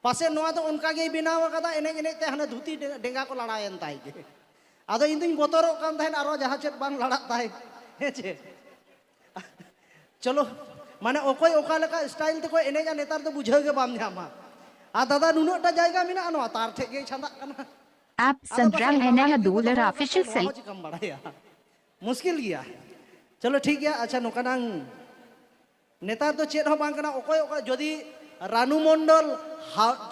ᱯᱟᱥᱮ ᱱᱚᱣᱟ ᱫᱚ ᱚᱱᱠᱟ ᱜᱮᱭ ᱵᱮᱱᱟᱣ ᱟᱠᱟᱫᱟ ᱮᱱᱮᱡ ᱮᱱᱮᱡ ᱛᱮ ᱦᱟᱱᱮ ᱫᱷᱩᱛᱤ ᱰᱮᱸᱜᱟ ᱠᱚ ᱞᱟᱲᱟᱭᱮᱱ ᱛᱟᱭ ᱜᱮ ᱟᱫᱚ ᱤᱧ ᱫᱩᱧ ᱵᱚᱛᱚᱨᱚᱜ ᱠᱟᱱ ᱛᱟᱦᱮᱸᱫ ᱟᱨᱚ ᱡᱟᱦᱟᱸ ᱪᱮᱫ ᱵᱟᱝ ᱞᱟᱲᱟᱜ ᱛᱟᱭ ᱦᱮᱸ ᱪᱮ ᱪᱚᱞᱚ ᱢᱟᱱᱮ ᱚᱠᱚᱭ ᱚᱠᱟ ᱞᱮᱠᱟ ᱥᱴᱟᱭᱤᱞ ᱛᱮᱠᱚ ᱮᱱᱮᱡᱟ ᱱᱮᱛᱟᱨ ᱫᱚ ᱵᱩᱡᱷᱟᱹᱣ ᱜᱮ ᱵᱟᱢ ᱧᱟᱢᱟ ᱟᱨ ᱫᱟᱫᱟ ᱱᱩᱱᱟᱹᱜᱴᱟ ᱡᱟᱭᱜᱟ ᱢᱮᱱᱟᱜᱼᱟ ᱱᱚᱣᱟ ᱛᱟᱨ ᱴᱷᱮᱡ ᱜᱮᱭ ᱪᱷᱟᱸᱫᱟᱜ ᱠᱟᱱᱟ ᱟᱯ ᱥᱟᱱᱫᱨᱟᱢ ᱮᱱᱟᱦᱟ ᱫᱩᱞᱟᱨ ᱚᱯᱷᱤᱥᱤᱭᱟᱞ ᱥᱮᱞ ᱪᱤᱠᱟᱢ ᱵᱟᱲᱟᱭᱟ ᱢᱩᱥᱠᱤᱞ ᱜᱮᱭᱟ ᱪᱚᱞᱚ ᱴᱷᱤᱠ ᱜᱮᱭᱟ ᱟᱪᱪᱷᱟ ᱱᱚᱝᱠᱟ ᱱᱟᱝ ᱱᱮᱛᱟᱨ ᱫᱚ ᱪᱮᱫ ᱦᱚᱸ ᱵᱟᱝ ᱠᱟᱱᱟ ᱚᱠᱚᱭ ᱚᱠᱟ ᱡᱩᱫᱤ ᱨᱟᱱᱩ ᱢᱚᱱᱰᱚᱞ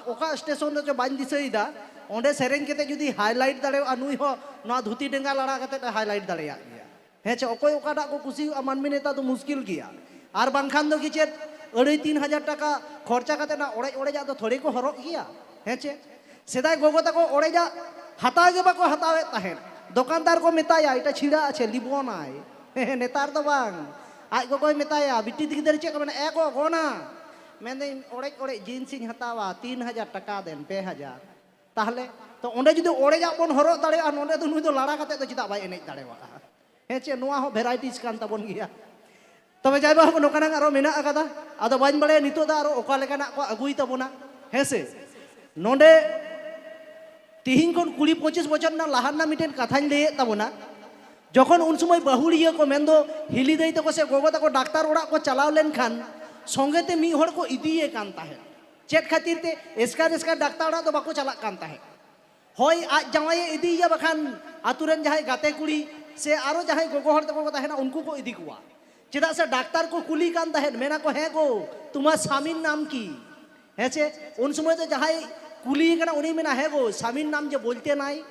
ᱚᱠᱟ ᱥᱴᱮᱥᱚᱱ ᱨᱮᱪᱚ ᱵᱟᱹᱧ ᱫᱤᱥᱟᱹᱭᱮᱫᱟ ᱚᱸᱰᱮ ᱥᱮᱨᱮᱧ ᱠᱟᱛᱮ ᱡᱩᱫᱤ ᱦᱟᱭᱞᱟᱭᱤᱴ ᱫᱟᱲᱮᱭᱟᱜᱼᱟ ᱱᱩᱭ ᱦᱚᱸ ᱱᱚᱣᱟ ᱫᱷᱩᱛᱤ ᱰᱮᱸᱜᱟ ᱞᱟᱲᱟ ᱠᱟᱛᱮ ᱮ ᱦᱟᱭᱞᱟᱭᱤᱴ ᱫᱟᱲᱮᱭᱟᱜ ᱜᱮᱭᱟ ᱦᱮᱸ ᱪᱮ ᱚᱠᱚᱭ ᱚᱠᱟᱴᱟᱜ ᱠᱚ ᱠᱩᱥᱤᱭᱟᱜᱼᱟ ᱢᱟᱹᱱᱢᱤ ᱱᱮᱛᱟᱨ ᱫᱚ ᱢᱩᱥᱠᱤᱞ ᱜᱮᱭᱟ ᱟᱨ ᱵᱟᱝᱠᱷᱟᱱ ᱫᱚ ᱠᱤ ᱪᱮᱫ ᱟᱹᱲᱟᱹᱭ ᱛᱤᱱ ᱦᱟᱡᱟᱨ ᱴᱟᱠᱟ ᱠᱷᱚᱨᱪᱟ ᱠᱟᱛᱮ ᱚᱱᱟ ᱚᱲᱮᱡ ᱚᱲᱮᱡᱟᱜ ᱫᱚ ᱛᱷᱚᱲᱮ ᱠᱚ ᱦᱚᱨᱚᱜ ᱜᱮᱭᱟ ᱦᱮᱸ ᱪᱮ ᱥᱮᱫᱟᱭ ᱜᱚᱜᱚ ᱛᱟᱠᱚ ᱚᱲᱮᱡᱟᱜ ᱦᱟᱛᱟᱣ ᱜᱮ ᱵᱟᱠᱚ ᱦᱟᱛᱟᱣᱮᱫ ᱛᱟᱦᱮᱸᱫ ᱫᱚᱠᱟᱱᱫᱟᱨ ᱠᱚ ᱢᱮᱛᱟᱭᱟ ᱮᱴᱟ ᱪᱷᱤᱲᱟ ᱟᱪᱷᱮ ᱞᱤᱵᱚᱱᱟᱭ ᱱᱮᱛᱟᱨ ᱫᱚ ᱵᱟᱝ ᱟᱡ ᱜᱚᱜᱚᱭ ᱢᱮᱛᱟᱭᱟ ᱵᱤᱴᱤ ᱜᱤᱫᱟᱹᱨ ᱪᱮᱫ ᱠᱚ ᱢᱮᱱᱟ ᱮ ᱜᱚ ᱜᱚᱱᱟ ᱢᱮᱱᱫᱟᱹᱧ ᱚᱲᱮᱡ ᱚᱲᱮᱡ ᱡᱤᱱᱥ ᱤᱧ ᱦᱟᱛᱟᱣᱟ ᱛᱤᱱ ᱦᱟᱡᱟᱨ ᱴᱟᱠᱟ ᱫᱮᱱ ᱯᱮ ᱦᱟᱡᱟᱨ ᱛᱟᱦᱞᱮ ᱛᱚ ᱚᱸᱰᱮ ᱡᱩᱫᱤ ᱚᱲᱮᱡᱟᱜ ᱵᱚᱱ ᱦᱚᱨᱚᱜ ᱫᱟᱲᱮᱭᱟᱜᱼᱟ ᱱᱚᱸᱰᱮ ᱫᱚ ᱱᱩᱭ ᱫᱚ ᱞᱟᱲᱟ ᱠᱟᱛᱮ ᱫᱚ ᱪᱮᱫᱟᱜ ᱵᱟᱭ ᱮᱱᱮᱡ ᱫᱟᱲᱮᱭᱟᱜᱼᱟ ᱦᱮᱸ ᱪᱮ ᱱᱚᱣᱟ ᱦᱚᱸ ᱵᱷᱮᱨᱟᱭᱴᱤᱡᱽ ᱠᱟᱱ ᱛᱟᱵᱚᱱ ᱜᱮᱭᱟ ᱛᱚᱵᱮ ᱡᱟᱭ ᱵᱟᱦᱚᱠ ᱱᱚᱝᱠᱟᱱᱟᱜ ᱟᱨᱚ ᱢᱮᱱᱟᱜ ᱟᱠᱟᱫᱟ ᱟᱫᱚ ᱵᱟᱹᱧ ᱵᱟᱲᱟᱭᱟ ᱱᱤᱛᱚᱜ ᱫᱚ ᱟᱨᱚ ᱚᱠᱟ ᱞᱮᱠᱟᱱᱟᱜ ᱠᱚ ᱟᱹᱜᱩᱭ ᱛᱟᱵᱚᱱᱟ ᱦᱮᱸ ᱥᱮ ᱱᱚᱰᱮ ᱛᱤᱦᱤᱧ ᱠᱷᱚᱱ ᱠᱩᱲᱤ ᱯᱚᱸᱪᱤᱥ ᱵᱚᱪᱷᱚᱨ ᱨᱮᱱᱟᱜ ᱞᱟᱦᱟ ᱨᱮᱱᱟᱜ ᱢᱤᱫᱴᱮᱱ ᱠᱟᱛᱷᱟᱧ ᱞᱟᱹᱭᱮᱫ ᱛᱟᱵᱚᱱᱟ ᱡᱚᱠᱷᱚᱱ ᱩᱱ ᱥᱚᱢᱚᱭ ᱵᱟᱹᱦᱩᱲᱤᱭᱟᱹ ᱠᱚ ᱢᱮᱱᱫᱚ ᱦᱤᱞᱤ ᱫᱟᱹᱭ ᱛᱟᱠᱚ ᱥᱮ ᱜᱚᱜᱚ ᱛᱟᱠᱚ ᱰᱟᱠᱛᱟᱨ ᱚᱲᱟᱜ ᱠᱚ ᱪᱟᱞᱟᱣ ᱞᱮᱱᱠᱷᱟᱱ ᱥᱚᱸᱜᱮ ᱛᱮ ᱢᱤᱫ ᱦᱚᱲ ᱠᱚ ᱤᱫᱤᱭᱮ ᱠᱟᱱ ᱛᱟᱦᱮᱸᱫ ᱪᱮᱫ ᱠᱷᱟᱹᱛᱤᱨ ᱛᱮ ᱮᱥᱠᱟᱨ ᱮᱥᱠᱟᱨ ᱰᱟᱠᱛᱟᱨ ᱚᱲᱟᱜ ᱫᱚ ᱵᱟᱠᱚ ᱪᱟᱞᱟᱜ ᱠᱟᱱ ᱛᱟᱦᱮᱸᱫ ᱦᱚᱭ ᱟᱡ ᱡᱟᱶᱟᱭ ᱮ ᱤᱫᱤᱭᱮᱭᱟ ᱵᱟᱠᱷᱟᱱ ᱟᱛᱳ ᱨᱮᱱ ᱡᱟᱦᱟᱸᱭ ᱜᱟᱛᱮ ᱠᱩᱲᱤ ᱥᱮ ᱟᱨᱚ ᱡᱟᱦᱟᱸᱭ ᱜᱚᱜᱚ ᱦᱚᱲ ᱛᱟᱠᱚ ᱠᱚ ᱛᱟᱦᱮᱱᱟ ᱩᱱᱠᱩ ᱠᱚ ᱤᱫᱤ ᱠᱚᱣᱟ ᱪᱮᱫᱟᱜ ᱥᱮ ᱰᱟᱠᱛᱟᱨ ᱠᱚ ᱠᱩᱞᱤ ᱠᱟᱱ ᱛᱟᱦᱮᱸᱫ ᱢᱮᱱᱟ ᱠᱚ ᱦᱮᱸ ᱜᱚ ᱛᱩᱢᱟᱨ ᱥᱟᱢᱤᱱ ᱱᱟᱢ ᱠᱤ ᱦᱮᱸ ᱪᱮ ᱩᱱ ᱥᱚᱢᱚᱭ ᱫᱚ ᱡᱟᱦᱟᱸᱭ ᱠᱩᱞᱤ ᱠᱟᱱᱟ ᱩᱱᱤ ᱢᱮᱱᱟ ᱦᱮᱸ ᱜᱚ ᱥᱟᱢᱤᱱ ᱱᱟᱢ ᱡᱮ ᱵᱚᱞᱛᱮ ᱱᱟᱭ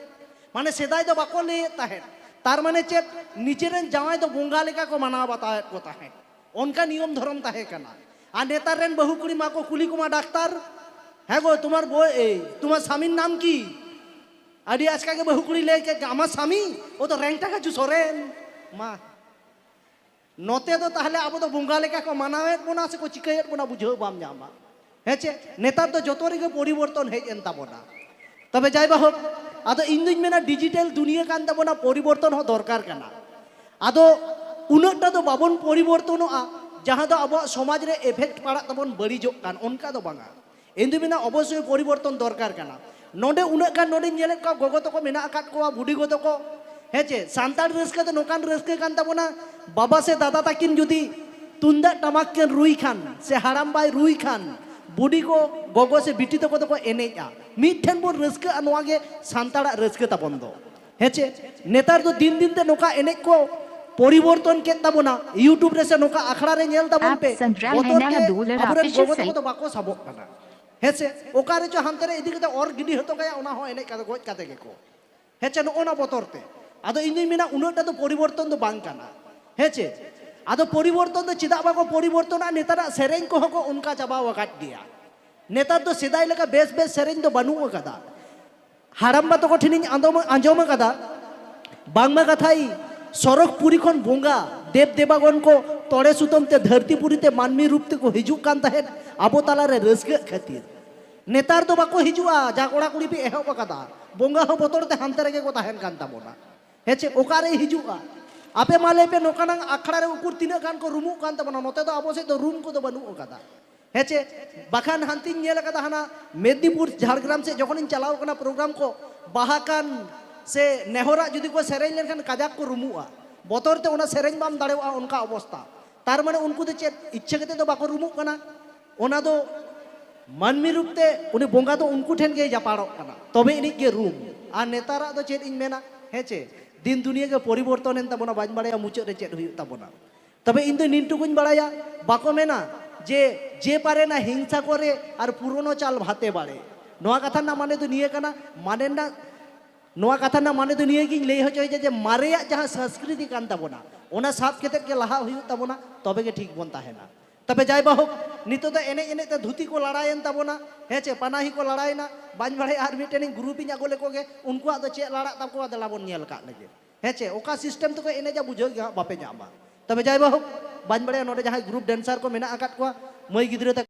ᱢᱟᱱᱮ ᱥᱮᱫᱟᱭ ᱫᱚ ᱵᱟᱠᱚ ᱞᱟᱹᱭᱮᱫ ᱛᱟᱦᱮᱸᱫ ᱛᱟᱨ ᱢᱟᱱᱮ ᱪᱮᱫ ᱱᱤᱡᱮᱨᱮᱱ ᱡᱟᱶᱟᱭ ᱫᱚ ᱵᱚᱸᱜᱟ ᱞᱮᱠᱟ ᱠᱚ ᱢᱟᱱᱟᱣ ᱵᱟᱛᱟᱣᱮᱫ ᱠᱚ ᱛᱟᱦᱮᱸᱫ ᱚᱱᱠᱟ ᱱᱤᱭᱚᱢ ᱫᱷᱚᱨᱚᱢ ᱛᱟᱦᱮᱸ ᱠᱟᱱᱟ ᱟᱨ ᱱᱮᱛᱟᱨ ᱨᱮᱱ ᱵᱟᱹᱦᱩ ᱠᱩᱲᱤ ᱢᱟᱠᱚ ᱠᱩᱞᱤ ᱠᱚᱢᱟ ᱰᱟᱠᱛᱟᱨ ᱦᱮᱸ ᱜᱚ ᱛᱩᱢᱟᱨ ᱵᱚᱭ ᱮ ᱛᱩᱢᱟᱨ ᱥᱟᱢᱤᱱ ᱱᱟᱢ ᱠᱤ ᱟᱹᱰᱤ ᱟᱪᱠᱟ ᱜᱮ ᱵᱟᱹᱦᱩ ᱠᱩᱲᱤ ᱞᱟᱹᱭ ᱠᱮᱫ ᱟᱢᱟᱜ ᱥᱟᱢᱤ ᱚ ᱫᱚ ᱨᱮᱝᱴᱟ ᱠᱟᱪᱩ ᱥᱚᱨᱮᱱ ᱢᱟ ᱱᱚᱛᱮ ᱫᱚ ᱛᱟᱦᱞᱮ ᱟᱵᱚ ᱫᱚ ᱵᱚᱸᱜᱟ ᱞᱮᱠᱟ ᱠᱚ ᱢᱟᱱᱟᱣᱮᱫ ᱵᱚᱱᱟ ᱥᱮᱠᱚ ᱪᱤᱠᱟᱹᱭᱮᱫ ᱵᱚᱱᱟ ᱵᱩᱡᱷᱟᱹᱣ ᱵᱟᱢ ᱧᱟᱢᱟ ᱦᱮᱸ ᱪᱮ ᱱᱮᱛᱟᱨ ᱫᱚ ᱡᱚᱛᱚ ᱨᱮᱜᱮ ᱯᱚᱨᱤᱵᱚᱨᱛᱚᱱ ᱦᱮᱡ ᱮᱱ ᱛᱟᱵᱚᱱᱟ ᱛᱚᱵᱮ ᱡᱟᱭ ᱵᱟᱦᱳᱠ ᱟᱫᱚ ᱤᱧ ᱫᱩᱧ ᱢᱮᱱᱟ ᱰᱤᱡᱤᱴᱮᱞ ᱫᱩᱱᱤᱭᱟᱹ ᱠᱟᱱ ᱛᱟᱵᱚᱱᱟ ᱯᱚᱨᱤᱵᱚᱨᱛᱚᱱ ᱦᱚᱸ ᱫᱚᱨᱠᱟᱨ ᱠᱟᱱᱟ ᱟᱫᱚ ᱩᱱᱟᱹᱜᱴᱟ ᱫᱚ ᱵᱟᱵᱚᱱ ᱯᱚᱨᱤᱵᱚᱨᱛᱚᱱᱚᱜᱼᱟ ᱡᱟᱦᱟᱸ ᱫᱚ ᱟᱵᱚᱣᱟᱜ ᱥᱚᱢᱟᱡᱽ ᱨᱮ ᱮᱯᱷᱮᱠᱴ ᱯᱟᱲᱟᱜ ᱛᱟᱵᱚᱱ ᱵᱟᱹᱲᱤᱡᱚᱜ ᱠᱟᱱ ᱚᱱᱠᱟ ᱫᱚ ᱵᱟᱝᱟ ᱤᱧ ᱫᱩᱧ ᱢᱮᱱᱟ ᱚᱵᱚᱥᱥᱳᱭ ᱯᱚᱨᱤᱵᱚᱨᱛᱚᱱ ᱫᱚᱨᱠᱟᱨ ᱠᱟᱱᱟ ᱱᱚᱰᱮ ᱩᱱᱟᱹᱜ ᱜᱟᱱ ᱱᱚᱰᱮᱧ ᱧᱮᱞᱮᱫ ᱠᱚᱣᱟ ᱜᱚᱜᱚ ᱛᱟᱠᱚ ᱢᱮᱱᱟᱜ ᱟᱠᱟᱫ ᱠᱚᱣᱟ ᱵᱩᱰᱤ ᱜᱚ ᱛᱟᱠᱚ ᱦᱮᱸ ᱪᱮ ᱥᱟᱱᱛᱟᱲ ᱨᱟᱹᱥᱠᱟᱹ ᱫᱚ ᱱᱚᱝᱠᱟᱱ ᱨᱟᱹᱥᱠᱟᱹ ᱠᱟᱱ ᱛᱟᱵᱚᱱᱟ ᱵᱟᱵᱟ ᱥᱮ ᱫᱟᱫᱟ ᱛᱟᱹᱠᱤᱱ ᱡᱩᱫᱤ ᱛᱩᱢᱫᱟᱜ ᱴᱟᱢᱟᱠ ᱠᱤᱱ ᱨᱩᱭ ᱠᱷᱟᱱ ᱥᱮ ᱦᱟᱲᱟᱢ ᱵᱟᱭ ᱨᱩᱭ ᱠᱷᱟᱱ ᱵᱩᱰᱤ ᱠᱚ ᱜᱚᱜᱚ ᱥᱮ ᱵᱤᱴᱤ ᱛᱟᱠᱚ ᱫᱚᱠᱚ ᱮᱱᱮᱡᱼᱟ ᱢᱤᱫ ᱴᱷᱮᱱ ᱵᱚᱱ ᱨᱟᱹᱥᱠᱟᱹᱜᱼᱟ ᱱᱚᱣᱟ ᱜᱮ ᱥᱟᱱᱛᱟᱲᱟᱜ ᱨᱟᱹᱥᱠᱟᱹ ᱛᱟᱵᱚᱱ ᱫᱚ ᱦᱮᱸ ᱪᱮ ᱱᱮᱛᱟᱨ ᱫᱚ ᱫᱤᱱ ᱫᱤᱱ ᱛᱮ ᱱᱚᱝᱠᱟ ᱮᱱᱮᱡ ᱠᱚ ᱯᱚᱨᱤᱵᱚᱨᱛᱚᱱ ᱠᱮᱫ ᱛᱟᱵᱚᱱᱟ ᱤᱭᱩᱴᱩᱵᱽ ᱨᱮ ᱥᱮ ᱱᱚᱝᱠᱟ ᱟᱠᱷᱲᱟ ᱨᱮ ᱧᱮᱞ ᱛᱟᱵᱚᱱ ᱯᱮ ᱵᱚᱛᱚᱨ ᱛᱮ ᱟᱵᱚᱨᱮᱱ ᱜᱚᱜᱚ ᱛᱟᱠᱚ ᱫᱚ ᱵᱟᱠᱚ ᱥᱟᱵᱚᱜ ᱠᱟᱱᱟ ᱦᱮᱸᱥᱮ ᱚᱠᱟ ᱨᱮᱪᱚ ᱦᱟᱱᱛᱮ ᱨᱮ ᱤᱫᱤ ᱠᱟᱛᱮ ᱚᱨ ᱜᱤᱰᱤ ᱦᱚᱴᱚ ᱠᱟᱭᱟ ᱚᱱᱟ ᱦᱚᱸ ᱮᱱᱮᱡ ᱠᱟᱛᱮ ᱜᱚᱡ ᱠᱟᱛᱮ ᱜᱮᱠᱚ ᱦᱮᱸᱪᱮ ᱱᱚᱜᱼᱚ ᱱᱟ ᱵᱚᱛᱚᱨ ᱛᱮ ᱟᱫᱚ ᱤᱧ ᱫᱩᱧ ᱢᱮᱱᱟ ᱩᱱᱟᱹᱜ ᱴᱟ ᱫᱚ ᱯᱚᱨᱤᱵᱚᱨᱛᱚᱱ ᱫᱚ ᱵᱟᱝ ᱠᱟᱱᱟ ᱦᱮᱸᱪᱮ ᱟᱫᱚ ᱯᱚᱨᱤᱵᱚᱨᱛᱚᱱ ᱫᱚ ᱪᱮᱫᱟᱜ ᱵᱟᱠᱚ ᱯᱚᱨᱤᱵᱚᱨᱛᱚᱱᱟ ᱱᱮᱛᱟᱨᱟᱜ ᱥᱮᱨᱮᱧ ᱠᱚᱦᱚᱸ ᱠᱚ ᱚᱱᱠᱟ ᱪᱟᱵᱟᱣ ᱟᱠᱟᱫ ᱜᱮᱭᱟ ᱱᱮᱛᱟᱨ ᱫᱚ ᱥᱮᱫᱟᱭ ᱞᱮᱠᱟ ᱵᱮᱥ ᱵᱮᱥ ᱥᱮᱨᱮᱧ ᱫᱚ ᱵᱟᱹᱱᱩᱜ ᱟᱠᱟᱫᱟ ᱦᱟᱲᱟᱢᱵᱟ ᱛᱟᱠᱚ ᱴᱷᱮᱱᱤᱧ ᱟᱸᱡᱚᱢ ᱟᱸᱡᱚᱢ ᱟᱠᱟᱫᱟ ᱵᱟᱝᱢᱟ ᱠᱟᱛᱷᱟᱭ ᱥᱚᱨᱚᱜᱽᱯᱩᱨᱤ ᱠᱷᱚᱱ ᱵᱚᱸᱜᱟ ᱫᱮᱵ ᱫᱮᱵᱟᱜᱚᱱ ᱠᱚ ᱛᱚᱲᱮ ᱥᱩᱛᱟᱹᱢ ᱛᱮ ᱫᱷᱟᱹᱨᱛᱤ ᱯᱩᱨᱤ ᱛᱮ ᱢᱟᱹᱱᱢᱤ ᱨᱩᱯ ᱛᱮᱠᱚ ᱦᱤᱡᱩᱜ ᱠᱟᱱ ᱛᱟᱦᱮᱸᱫ ᱟᱵᱚ ᱛᱟᱞᱟ ᱨᱮ ᱨᱟᱹᱥᱠᱟᱹᱜ ᱠᱷᱟᱹᱛᱤᱨ ᱱᱮᱛᱟᱨ ᱫᱚ ᱵᱟᱠᱚ ᱦᱤᱡᱩᱜᱼᱟ ᱡᱟ ᱠᱚᱲᱟ ᱠᱩᱲᱤ ᱯᱮ ᱮᱦᱚᱵ ᱟᱠᱟᱫᱟ ᱵᱚᱸᱜᱟ ᱦᱚᱸ ᱵᱚᱛᱚᱨ ᱛᱮ ᱦᱟᱱᱛᱮ ᱨᱮᱜᱮ ᱠᱚ ᱛᱟᱦᱮᱱ ᱠᱟᱱ ᱛᱟᱵᱚᱱᱟ ᱦᱮᱸ ᱪᱮ ᱚᱠᱟᱨᱮ ᱦᱤᱡᱩᱜᱼᱟ ᱟᱯᱮ ᱢᱟ ᱞᱟᱹᱭ ᱯᱮ ᱱᱚᱝᱠᱟᱱᱟᱝ ᱟᱠᱷᱲᱟ ᱨᱮ ᱩᱠᱩᱨ ᱛᱤᱱᱟᱹᱜ ᱜᱟᱱ ᱠᱚ ᱨᱩᱢᱩᱜ ᱠᱟᱱ ᱛᱟᱵᱚᱱᱟ ᱱᱚᱛᱮ ᱫᱚ ᱟᱵᱚ ᱥᱮᱫ ᱫᱚ ᱨᱩᱢ ᱠᱚᱫᱚ ᱵᱟᱹᱱᱩᱜ ᱟᱠᱟᱫᱟ ᱦᱮᱸ ᱪᱮ ᱵᱟᱠᱷᱟᱱ ᱦᱟᱱᱛᱤᱧ ᱧᱮᱞ ᱟᱠᱟᱫᱟ ᱦᱟᱱᱟ ᱢᱮᱫᱽᱱᱤᱯᱩᱨ ᱡᱷᱟᱲᱜᱨᱟᱢ ᱥᱮᱫ ᱡᱚᱠᱷᱚᱱᱤᱧ ᱪᱟᱞᱟᱣ ᱟᱠᱟᱱᱟ ᱯᱨᱳᱜᱨᱟᱢ ᱠᱚ ᱵᱟᱦᱟ ᱠᱟᱱ ᱥᱮ ᱱᱮᱦᱚᱨᱟᱜ ᱡᱩᱫᱤ ᱠᱚ ᱥᱮᱨᱮᱧ ᱞᱮᱱᱠᱷᱟᱱ ᱠᱟᱡᱟᱠ ᱠᱚ ᱨᱩᱢᱩᱜᱼᱟ ᱵᱚᱛᱚᱨ ᱛᱮ ᱚᱱᱟ ᱥᱮᱨᱮᱧ ᱵᱟᱢ ᱫᱟᱲᱮᱣᱟᱜᱼᱟ ᱚᱱᱠᱟ ᱚᱵᱚᱥᱛᱟ ᱛᱟᱨ ᱢᱟᱱᱮ ᱩᱱᱠᱩ ᱫᱚ ᱪᱮᱫ ᱤᱪᱪᱷᱟᱹ ᱠᱟᱛᱮ ᱫᱚ ᱵᱟᱠᱚ ᱨᱩᱢᱩᱜ ᱠᱟᱱᱟ ᱚᱱᱟ ᱫᱚ ᱢᱟᱹᱱᱢᱤ ᱨᱩᱯ ᱛᱮ ᱩᱱᱤ ᱵᱚᱸᱜᱟ ᱫᱚ ᱩᱱᱠᱩ ᱴᱷᱮᱱ ᱜᱮᱭ ᱡᱟᱯᱟᱲᱚᱜ ᱠᱟᱱᱟ ᱛᱚᱵᱮ ᱟᱹᱱᱤᱡ ᱜᱮ ᱨᱩᱢ ᱟᱨ ᱱᱮᱛᱟᱨᱟᱜ ᱫᱚ ᱪᱮᱫ ᱤᱧ ᱢᱮᱱᱟ ᱦᱮᱸ ᱪᱮ ᱫᱤᱱ ᱫᱩᱱᱤᱭᱟᱹ ᱜᱮ ᱯᱚᱨᱤᱵᱚᱨᱛᱚᱱ ᱮᱱ ᱛᱟᱵᱚᱱᱟ ᱵᱟᱹᱧ ᱵᱟᱲᱟᱭᱟ ᱢᱩᱪᱟᱹᱫ ᱨᱮ ᱪᱮᱫ ᱦᱩᱭᱩᱜ ᱛᱟᱵᱚᱱᱟ ᱛᱚᱵᱮ ᱤᱧ ᱫᱚ ᱱᱤᱱ ᱴᱩᱠᱩᱧ ᱵᱟᱲᱟᱭᱟ ᱵᱟᱠᱚ ᱢᱮᱱᱟ ᱡᱮ ᱡᱮ ᱯᱟᱨᱮ ᱱᱟ ᱦᱤᱝᱥᱟ ᱠᱚᱨᱮ ᱟᱨ ᱯᱩᱨᱚᱱᱚ ᱪᱟᱞ ᱵᱷᱟᱛᱮ ᱵᱟᱲᱮ ᱱᱚᱣᱟ ᱠᱟᱛᱷᱟ ᱨᱮᱱᱟᱜ ᱢᱟᱱᱮ ᱫᱚ ᱱᱤᱭᱟᱹ ᱠᱟᱱᱟ ᱢᱟᱱᱮ ᱨᱮᱱᱟᱜ ᱱᱚᱣᱟ ᱠᱟᱛᱷᱟ ᱨᱮᱱᱟᱜ ᱢᱟᱱᱮ ᱫᱚ ᱱᱤᱭᱟᱹ ᱜᱤᱧ ᱞᱟᱹᱭ ᱦᱚᱪᱚᱭᱮᱫᱟ ᱡᱮ ᱢᱟᱨᱮᱭᱟᱜ ᱡᱟᱦᱟᱸ ᱥᱚᱝᱥᱠᱨᱤᱛᱤ ᱠᱟᱱ ᱛᱟᱵᱚᱱᱟ ᱚᱱᱟ ᱥᱟᱵ ᱠᱟᱛᱮ ᱜᱮ ᱞᱟᱦᱟ ᱦᱩᱭᱩᱜ ᱛᱟᱵᱚᱱᱟ ᱛᱚᱵᱮ ᱜᱮ ᱴᱷᱤᱠ ᱵᱚᱱ ᱛᱟᱦᱮᱱᱟ ᱛᱚᱵᱮ ᱡᱟᱭ ᱵᱟᱦᱳᱠ ᱱᱤᱛᱚᱜ ᱫᱚ ᱮᱱᱮᱡ ᱮᱱᱮᱡ ᱛᱮ ᱫᱷᱩᱛᱤ ᱠᱚ ᱞᱟᱲᱟᱭᱮᱱ ᱛᱟᱵᱚᱱᱟ ᱦᱮᱸ ᱪᱮ ᱯᱟᱱᱟᱦᱤ ᱠᱚ ᱞᱟᱲᱟᱭᱮᱱᱟ ᱵᱟᱹᱧ ᱵᱟᱲᱟᱭᱟ ᱟᱨ ᱢᱤᱫᱴᱮᱱ ᱜᱨᱩᱯ ᱤᱧ ᱟᱹᱜᱩ ᱞᱮᱠᱚ ᱜᱮ ᱩᱱᱠᱩᱣᱟᱜ ᱫᱚ ᱪᱮᱫ ᱞᱟᱲᱟᱜ ᱛᱟᱠᱚᱣᱟ ᱫᱮᱞᱟ ᱵᱚᱱ ᱧᱮᱞ ᱠᱟᱜ ᱞᱮᱜᱮ ᱦᱮᱸ ᱪᱮ ᱚᱠᱟ ᱥᱤᱥᱴᱮᱢ ᱛᱮᱠᱚ ᱮᱱᱮᱡᱟ ᱵᱩᱡᱷᱟᱹᱣ ᱜᱮ ᱦᱟᱸᱜ ᱵᱟᱯᱮ ᱧᱟᱢᱟ ᱛᱚᱵᱮ ᱡᱟᱭ ᱵᱟᱦᱩ ᱵᱟᱹᱧ ᱵᱟᱲᱟᱭᱟ ᱱᱚᱰᱮ ᱡᱟᱦᱟᱸᱭ ᱜᱨᱩᱯ ᱰᱮᱱᱥᱟᱨ ᱠᱚ ᱢᱮᱱᱟᱜ ᱟᱠᱟᱫ ᱠᱚᱣᱟ ᱢᱟᱹᱭ ᱜᱤᱫᱽᱨᱟᱹ ᱛᱟᱠᱚ